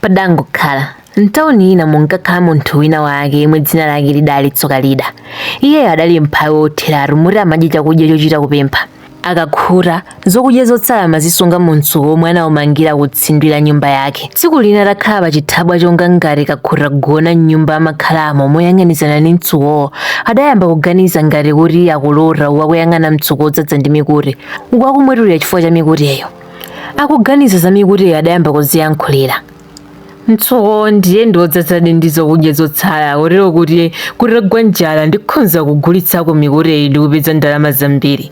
Padangokhala. M'tauni ina munkakhala munthu wina wake yemwe dzina lake lidali Tsokalida. Iyeyo adali mphawi wotheratu moti amadya chakudya chochita kupempha. Akakhuta, zokudya zotsala amazisunga mumtsuko womwe anaumangira kutsindwi la nyumba yake. Tsiku lina atakhala pachithabwa chonga ngati kakhuta kugona m'nyumba amakhalamo moyang'anizana ndi mtsukowo, adayamba kuganiza ngati kuti akulota uku akuyang'ana mtsuko wodzadza ndi mikute, uku akumwetulira chifukwa cha mikuteyo. akuganiza za mikuteyo adayamba kuziyankhulira mtsuko ndiye ndiodzadzadi ndi zokudya zotsala kotero kuti kutagwa njala ndikhonza kugulitsako mikuteyi ndi kupeza ndalama zambiri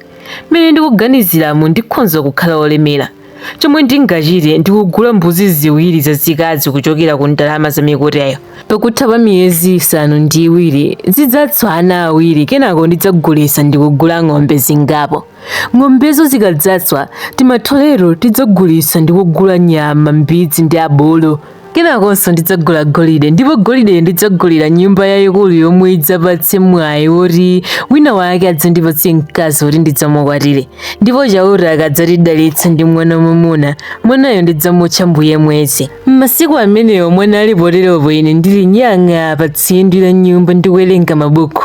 mmene ndikuganiziramu ndikhonza kukhala olemera chomwe ndingachite ndikugula mbuzi ziwiri zazikazi kuchokera ku ndalama za mikuteyo pakutha pa miyezi isanu ndi iwiri zidzatswa ana awiri kenako ndidzagulitsa ndikugula ng'ombe zingapo Ng'ombezo zikadzaswa timatholeto tidzagulitsa ndi kugula nyama, mbidzi ndi abulu. Kenakonso ndidzagula golide ndipo golideyo ndidzagulira nyumba yayikulu yomwe idzapatse mwayi woti wina wake adzandipatse mkazi woti ndidzamukwatire. Ndipo Chauta akadzatidalitsa ndi mwana wamwamuna, mwanayo ndidzamutcha Mbuye Mwezi. M'masiku amenewo mwana ali poteropo ine ndili nyang'a pa tsindwi la nyumba ndikuwerenga mabuku,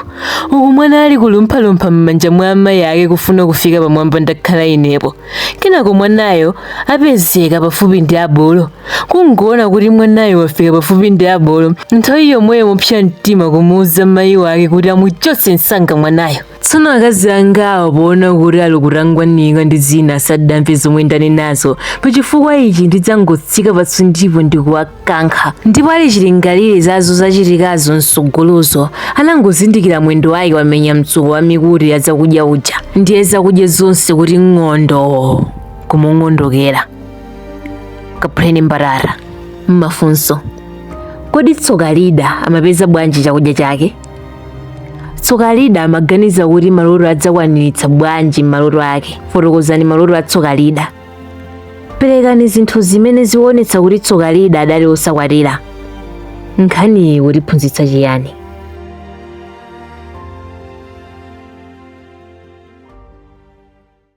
uku mwana ali kulumphalumpha m'manja mwa amayi ake kufuna kufika pamwamba ndakhala inepo. Kenako mwanayo apezeka pafupi ndi abulu. Kungoona kuti mwanayo wafika pafupi ndi abulu, nthawi yomweyo mopsa mtima kumuuza mayi wake kuti amuchotse msanga mwanayo. tsono akazi angawo poona kuti ali kutangwanika ndi zina asadamve zomwe ndanenazo pachifukwa ichi ndidzangotsika patsindwipo ndikuwakankha ndipo ali chilingalire za zodzachitikazo msogolozo anangozindikira mwendo wake wamenya mtsuko wa mikute ya zakudya uja ndiye zakudya zonse kuti ng'ondo kumung'ondokera kaphuleni mbatata mafunso kodi tsokalida amapeza bwanji chakudya chake tsokalida amaganiza kuti maloto adzakwaniritsa bwanji maloto ake fotokozani maloto a tsokalida perekani zinthu zimene zikuonetsa kuti tsokalida adali osakwatira nkhaniyi ikutiphunzitsa chiyani